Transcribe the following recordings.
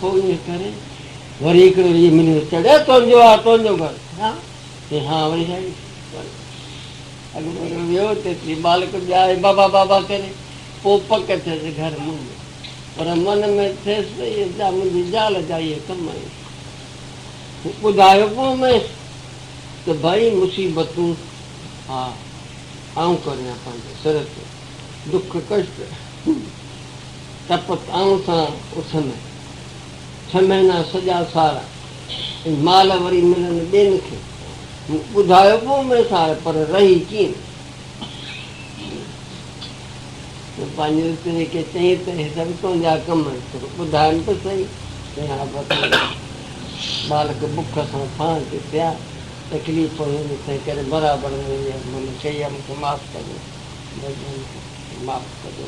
پوء انهيء ڪري وري هڪڙو اهو مليو ته چڙهي تنهنجو آ تنهنجو گهر ها چيائين ها وري ڇا ڪيائين اڳ ۾ هڪڙو ويو ته ايتري مالڪ ٻيا آهي بابا بابا ڪري پوء پڪ ٿيس گهر منهنجو پر من ۾ ٿيس ته اهي جا منهنجي زال جا اهي ڪم آهن ٻڌايو پوء ميس ته ڀائي مصيبتون ها آئون ڪريان پنهنجي سر تي دک ڪشٽ تپ تانء سان اٿن ڇهه مهينا سڄا سال ۽ مال وري ملن ٻين کي مون ٻڌايو به اومي سار پر رهي ڪين مون پنهنجي اتري کي چئين ته هي سڀ تنهنجا ڪم آهن پر ٻڌايم ته سهي تنهن کان پوء ٿورا ٻالڪ بک سان ڦاهن تي پيا تڪليف هيم تنهن ڪري برابر نه ويئس مون چئي ها مون کي معاف ڪجو بس جان مون کي معاف ڪجو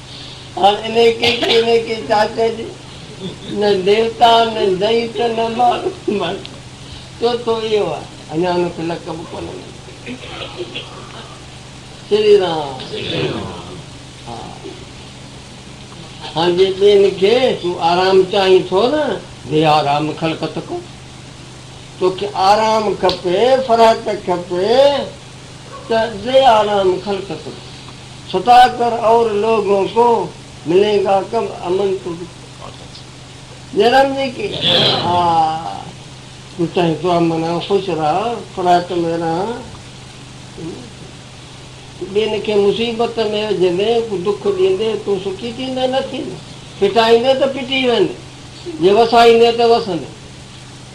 هاڻ انهيء ڪيچي انهيء ڪي چاچي جي نه ديوتا نه دئيت نه ماڻهو مڙد چوٿو اهو آهي اڃا ان کي لقب به ڪونه مليو شري رام ها هاڻ جي ٻين کي تون آرام چاهين ٿو نه بي آرام خلقت ڪو توکي آرام کپي فرحت کپي ته دي آرام خلق کن ستا کر اور لوگون کو ملين گا کب امن تو دکھ جي رام جي ڪي آ تو چاهين تو امن آ خوش رهه فراق ۾ رهان تو ٻين کي مصيبت ۾ وجهندي ڪو دک ڏيندي تون سکي ٿيندي نه ٿيندي ڦٽائيندي ته ڦٽي ويندي جي وسائيندي ته وسندي.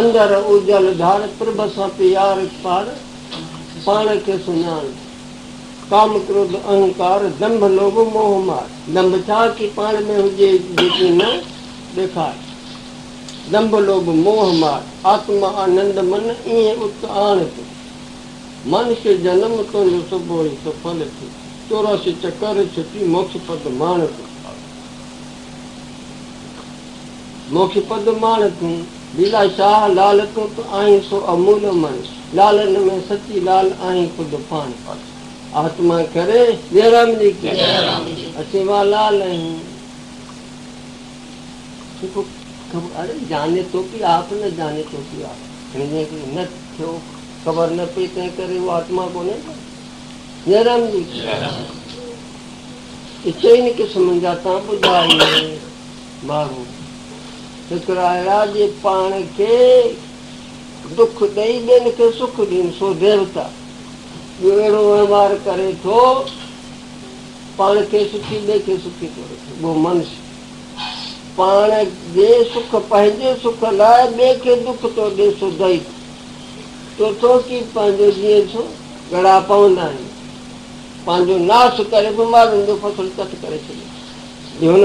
اندر اوجل ڌاڙ، پرڀ سان پيار پاڙ، پاڻ کي سڃاڻ، ڪام ڪروڌ اهنڪار، دنڀ لوڀ موهه مار، دنڀ ڇا ڪي پاڻ ۾ هجي جيڪي نه ڏيکار، دنڀ لوڀ موهه مار، آتم آنند من ايئن ات آڻ ٿي، مانوس جنم تنهنجو سڀو ئي سڦل ٿي، چوراسي چڪر ڇٽي موکش پد ماڻ ٿي. مون کي پد ماڻ تون، ليلا شاهه، لال تون ته آهين سو امول امڙ، لالن ۾ سچي لال آهين خود پاڻ. آتما ڪري جئه رام جي ڪي، اسين وا لال آهيون. جيڪو خبر اري جاني تو ڪي آپ نه جاني تو ڪي آپ يعني جنهن کي نه ٿيو خبر نه پئي تنهن ڪري اهو آتما ڪونهي ڪو. جئه رام جي ڪي. اي چئن قسمن جا تان ٻڌا اهي. ماڻهو هڪڙا اهڙا جي پاڻ کي دک ڏئي ٻين کي سک ڏين سو ديوتا ٻيو اهڙو وهنوار ڪري ٿو پاڻ کي سکي ٻئي کي سکي ٿو رکي گو منش پاڻ جي سک پنهنجي سک لاء ٻئي کي دک ٿو ڏي سو دئيت تو ٿو ڪي پنهنجو جيئن ٿو ڳڙها پوندا آهن پنهنجو ناس ڪري بيمارين جو فصل چٽ ڪري ڇڏي ٿي هن